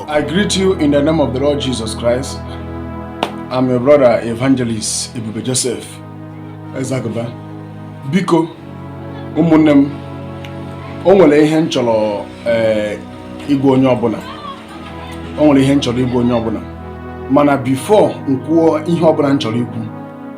I greet you in the name of the Lord Jesus Christ. I'm your brother Evangelist Ebube Joseph Ezagaba. Biko ụmụnne m o nwere ihe m chọrọ eh, ịgwa onye ọbụla o nwere ihe m chọrọ ịgwa onye ọbụla mana before m kwuo ihe ọbụla m chọrọ ikwu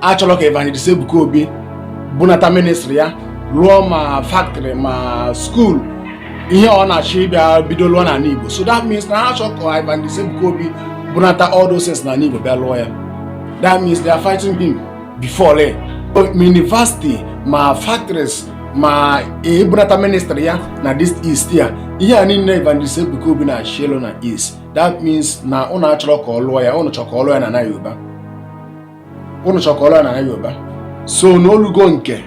achọrọ ka Evangelist Ebuka Obi bunata ministry ya rụọ ma factory ma school ihe ọ na-achọ ịbịa bido lụọ n'ala Igbo so that means na ha achọrọ ka Evangelist Ebuka Obi bunata all those things n'ala Igbo bịa lụọ ya that means they are fighting him before le university ma factories ma ibunata ministry ya na this east ya ihe a niile Evangelist Ebuka Obi na-achọ ịlụ na east that means na ụnụ achọrọ ka ọ lụọ ya ụnụ chọrọ ka ọ lụọ ya na na Yoruba unu chọ ka ọ rụọ na Yoruba so na o lugo nke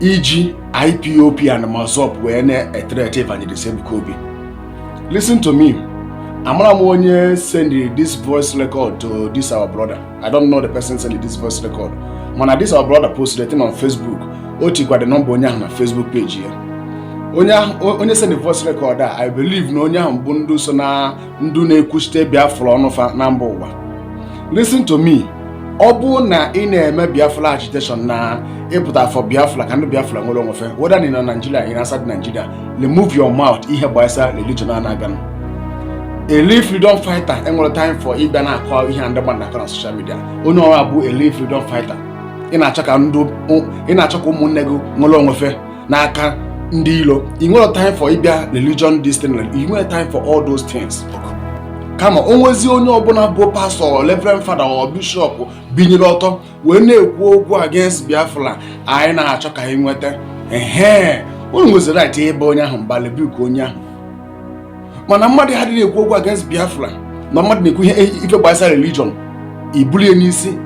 iji IPOP and MASSOB wee na-ethreaten Evangelist Ebuka Obi listen to me amarọ m onye send this voice record to this our brother I don't know the person send this voice record mana this our brother posted it on Facebook o tikwa the number onye ahụ na Facebook page ya onye send voice record a I believe na onye ahụ bụ ndị so na ndị na-ekwuchite biafra ọnụ fa na mba ụwa listen to me ọ bụ na ị na-eme biafra agitation na ị pụta for biafra ka ndị biafra nwere onwe fa whether ị nọ na nigeria ị nọ outside nigeria remove your mouth ihe gbasara religion na-aganụ a real freedom fighter enwerọ time for ịbịa na-akọ ihe ndị mmadụ na-akọ na social media onye ọbụla bụ a real freedom fighter ị na-achọ ka ụmụnne gị nwere onwe fa n'aka ndị ilo i nwerọ time for ịbịa religion this thing i nwerọ time for all those things kama o nwezi onye ọbụla bụ pastor reverend father or bishop binyere ọtọ wee na-ekwu okwu against biafra anyị na-achọ ka anyị nweta ehe unu nwezi right ịba onye ahụ mba rebuke onye ahụ mana mmadụ ahụ adịghị ekwu okwu against biafra na mmadụ na-ekwu ihe ife gbasara religion i bulu ya n'isi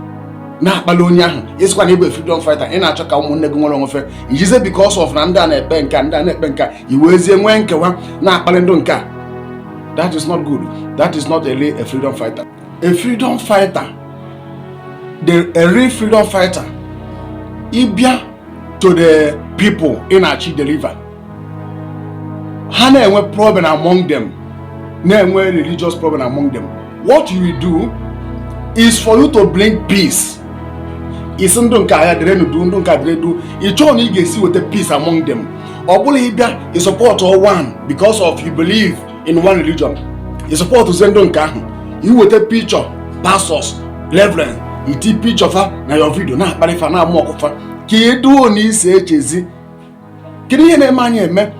na-akpali onye ahụ ị sịkwa na ị bụ freedom fighter ị na-achọ ka ụmụnne gị nwere onwe fa i jizi because of na ndị a na-ekpe nke a ndị a na-ekpe nke a i wezie nwee nkewa na-akpali ndị nke a that is not good that is not a real a freedom fighter a freedom fighter the a real freedom fighter ị bịa to the people ị na-achọ ịdeliver ha na-enwe problem among them na-enwe religious problem among them what you will do is for you to bring peace ị sị ndị nke a dịrị ndụ ndị nke a dịrị ndụ ị chọọ na ị ga-esi weta peace among them ọ bụrọ ịbịa ị support one because of you believe in one religion ị supportuzie ndị nke ahụ i weta picture pastors reverend i ti picture fa na your video na-akparị fa na-amụ ọkụ fa ka eduo na isi echezi kedu ihe na-eme anyị eme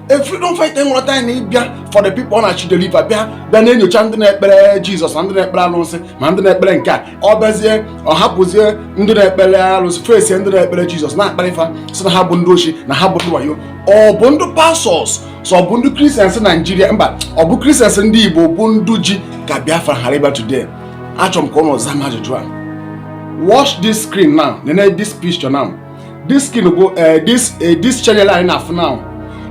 a freedom fighter nwere time na ịbịa for the people ọ na-achọ ịdeliver bịa bịa na-enyocha ndị na-ekpere jizọs na ndị na-ekpere alụsị ma ndị na-ekpere nke a ọ bịazie ọ hapụzie ndị na-ekpere alụsị fesie ndị na-ekpere jizọs na-akparị fa sị na ha bụ ndị oshi na ha bụ ndị wayo ọ bụ ndị pastors so ọ bụ ndị Christians Nigeria mba ọ bụ Christians ndị igbo bụ ndị ji ka biafra ghara ịbịa today achọrọ m ka ụnụ zaa m ajụjụ a watch this screen now nene this picture now this screen bụ eh, this eh, this channel anyị na-afụ now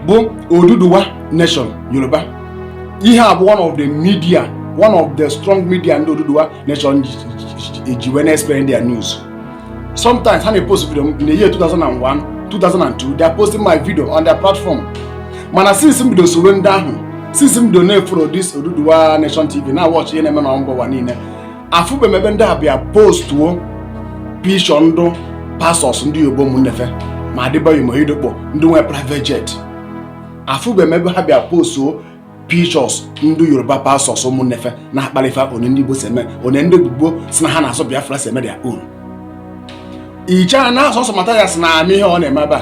bụ Oduduwa Nation Yoruba ihe a bụ one of the media one of the strong media ndị Oduduwa Nation ji wee na-explain their news sometimes ha na-epost video in the year 2001 2002 they are posting my video on their platform mana since m bido soro ndị ahụ since m bido na-efollow this Oduduwa Nation TV na-awatch ihe na-eme na mba ụwa niile afụbe m ebe ndị a bịa postuo picture ndị pastors ndị Yoruba ụmụnnefe ma Adeboye ma Oyedepo ndị nwe private jet afụbe m ebe ha bịa postuo pictures ndị Yoruba pastors ụmụnnefe na-akpalị fa onye ndị Igbo si eme onye ndị Igbo si na ha na-asọ Biafra si eme their own ichara na ọ sọsọ Mathias na-eme ihe ọ na-eme ebe a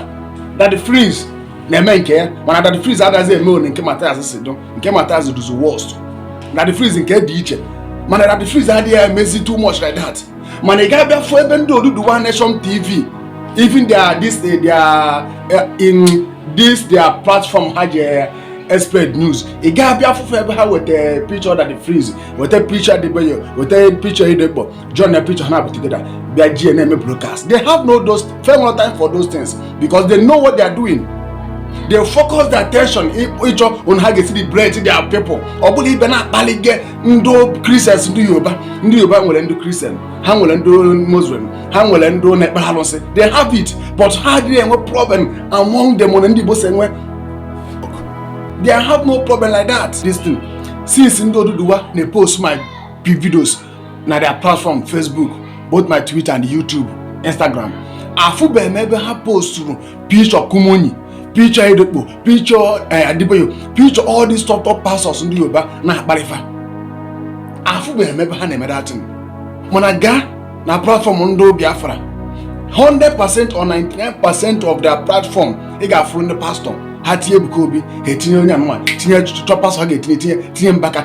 Daddy Freeze na-eme nke ya mana Daddy Freeze adazi eme one nke Mathias si dụ nke Mathias dụzi worst Daddy Freeze nke dị iche mana Daddy Freeze adịghị emezi too much like that mana ị ga-abịa fụ ebe ndị Oduduwa Nation TV even their this eh, their eh, in this their platform ha ji espread news ị ga-abịa fụfụ ebe ha weta picture Daddy Freeze weta picture Adeboye weta picture Oyedepo join na picture ha put together bịa ji na-eme broadcast they have no those fair no time for those things because they know what they are doing they focus their attention ịchọ on ha ga-esi liberate their people ọ bụrọ ịbịa na-akpalịga ndị Christians ndị Yoruba ndị Yoruba nwere ndị Christian ha nwere ndị Muslim ha nwere ndị na-ekpere alụsị they have it but ha adịghị enwe problem among them na ndị Igbo si enwe they have no problem like that this thing since ndị Oduduwa na-post my videos na their platform Facebook both ma Twitter and YouTube Instagram afụbeghị m ebe ha posturu picture Kumuyi picture Oyedepo picture eh, Adeboye picture all these top top pastors ndị Yoruba na-akparị fa afụbeghị m ebe ha na-eme that thing mana gaa na platform ndị Biafra 100% or 99% of their platform ị ga-afụrụ ndị pastor ha tinye Ebuka Obi ha etinye onye anụmanụ tinye top pastor ha ga-etinye tinye tinye Mbaka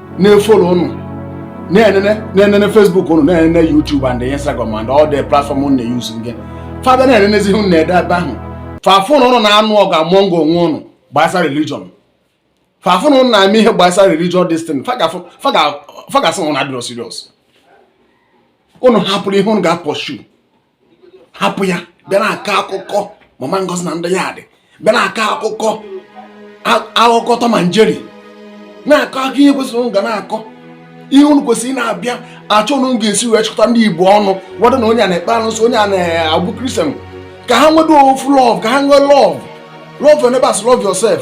na-efolo ụnụ na-enene Facebook ụnụ na-enene YouTube and Instagram and all the platform ụnụ na-eyuzu gị fa ga na-enenezi ụnụ na-ede ebe ahụ fa fụ na ụnụ na-anụ ọgụ among onwe ụnụ gbasara religion fa fụ na ụnụ na-eme ihe gbasara religion this thing fa ga-asị ụnụ adịrọ serious ụnụ hapụrụ ihe ụnụ ga-apọshu hapụ ya bịa na-akọ akụkọ mama ngozi na ndị ya dị bịa na-akọ akụkọ akụkọ Tom and Jerry na-akọ akụkọ ihe kwesịrị ụnụ ga na-akọ ihe unu kwesịrị na-abịa achọ unu ga-esi wee chịkọta ndị igbo ọnụ whether na onye a na-ekpe alụsị onye a na-abụ Christian ka ha nwedo ofu love ka ha nwee love love your neighbors love yourself